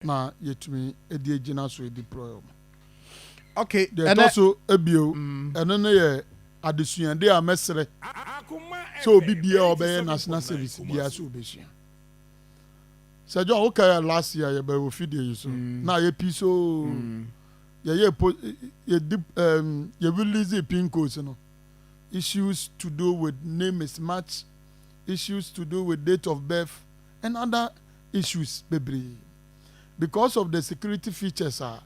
na yɛtumi de agyina so adi prɔyɔ mu. Ok, ɛnɛ. Deɛ ɛtɔ so ebio, ɛno no yɛ adesuade a mɛsrɛ sɛ obi biara a ɔbɛyɛ national service biara sɛ ɔbɛsua. Sɛ John, wokae last year yɛbɛɛ wɔ fidie yi so, na yɛ pii so yɛyɛ po, yɛdi, um, yɛ release pin codes no. Issues to do with name mismatch, issues to do with date of birth, and other issues bebree because of the security features a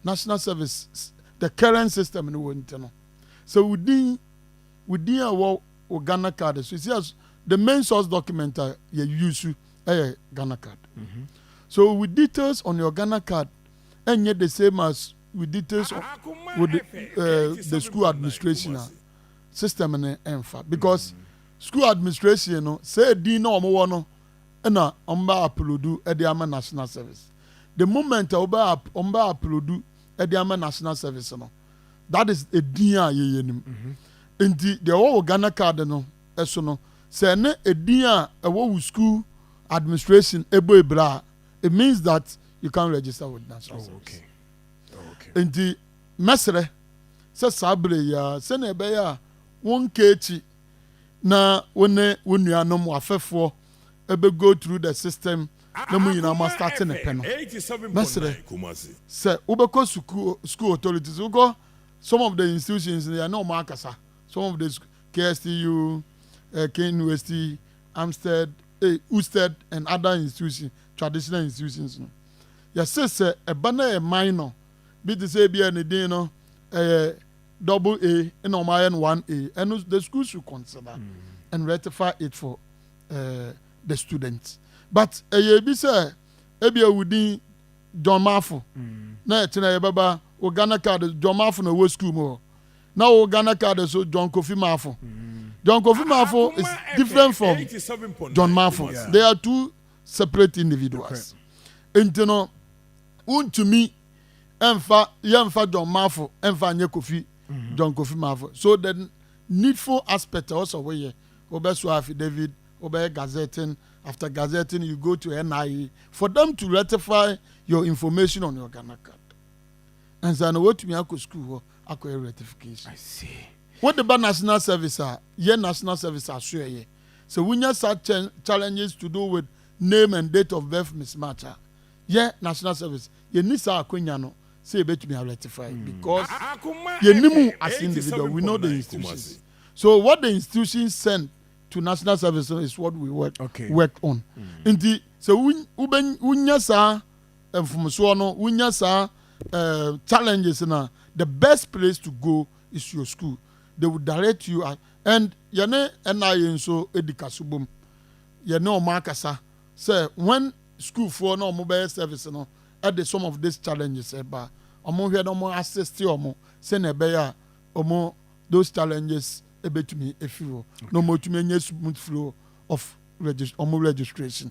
national service the current system no wɔ nti no sɛ wo din wo din a ɛwɔ wo Ghana card so si as the main source document a yɛ use ɛyɛ Ghana card mm -hmm. so wo details on your Ghana card ɛnyɛ the same as wo details on wo the, uh, the school administration a system no ɛnfa because mm -hmm. school administration no sɛ din na wɔn wɔ no na wɔbɛ aplodu de ama national service the moment a wɔbɛ wɔbɛ aplodu de ama national service no that is edin a yɛyɛ nim mhm. nti deɛ ɛwɔ wɔ ghana card no ɛso no sɛ ɛne edin a ɛwɔ wɔ school administration ɛbɔ ebira a it means that you can register with national oh, service oh, okay. nti mɛsrɛ sɛ saa bere yɛ a sɛnea ɛbɛyɛ a wɔn nkeekyi. na wo ne wo nuanom wafɛfoɔ ɛbɛ go through the system na mo nyinaa mo astate ne pɛ no mɛsrɛ sɛ wobɛkɔ sukuo school authorities wokɔ some of the institutions no yɛne ɔmo akasa some of the KSTU uh, Ken Westy Amstead eh, Usted and other institutions traditional institutions no yɛse sɛ ɛba na ɛman no bi te sɛ bi a ne din no ɛyɛ double A na wɔn ayɛ no one A ɛno the school should consider mm. and rectify it for uh, the students but ɛyɛ ebi sɛ ebi ewu din John Mafo mm. na ɛkyerɛ yɛbɛba o Ghana card John Mafo na ɛwɔ school mu hɔ na o Ghana card so John Kofi Mafo mm. John Kofi Mafo is different from John Mafo yeah. they are two separate individuals nti no wontumi. ɛmfa yɛmfa John Mafo ɛmfa nyɛ Kofi mm-hmm. John Kofi Mafo so the needful aspect ɛwɔ sɛ woyɛ wobɛsoa affidavit wobɛyɛ gazetting after gazetting you go to NIA for them to rectify your information on your Ghana card ansa na wɔatumi akɔ sukuu hɔ akɔyɛ rectification wode ba national service a yɛ national service asoɛyɛ sɛ wonya such challenges to do with name and date of birth mismatch a yɛ national service yɛnni saa akwanya no sɛ yɛbɛtumi a rectify because yɛnnim as individual we know the institutions so what the institutions send to national service no is what we work, okay. work on mm. nti sɛ wonya saa mfomsoɔ no wonya saa uh, challenges na the best place to go is your school they will direct you at, and yɛne ɛna yɛ nso edi kaso bom yɛne ɔmo akasa sɛ when sukuufoɔ na ɔmo bɛyɛ service no de some of this challenges ba ɔmo hwɛ na ɔmo assist ɔmo sɛnea ɛbɛyɛ a ɔmo those challenges ɛbɛtumi afiri hɔ na ɔmo tumi anya smooth flow of ɔmo registration.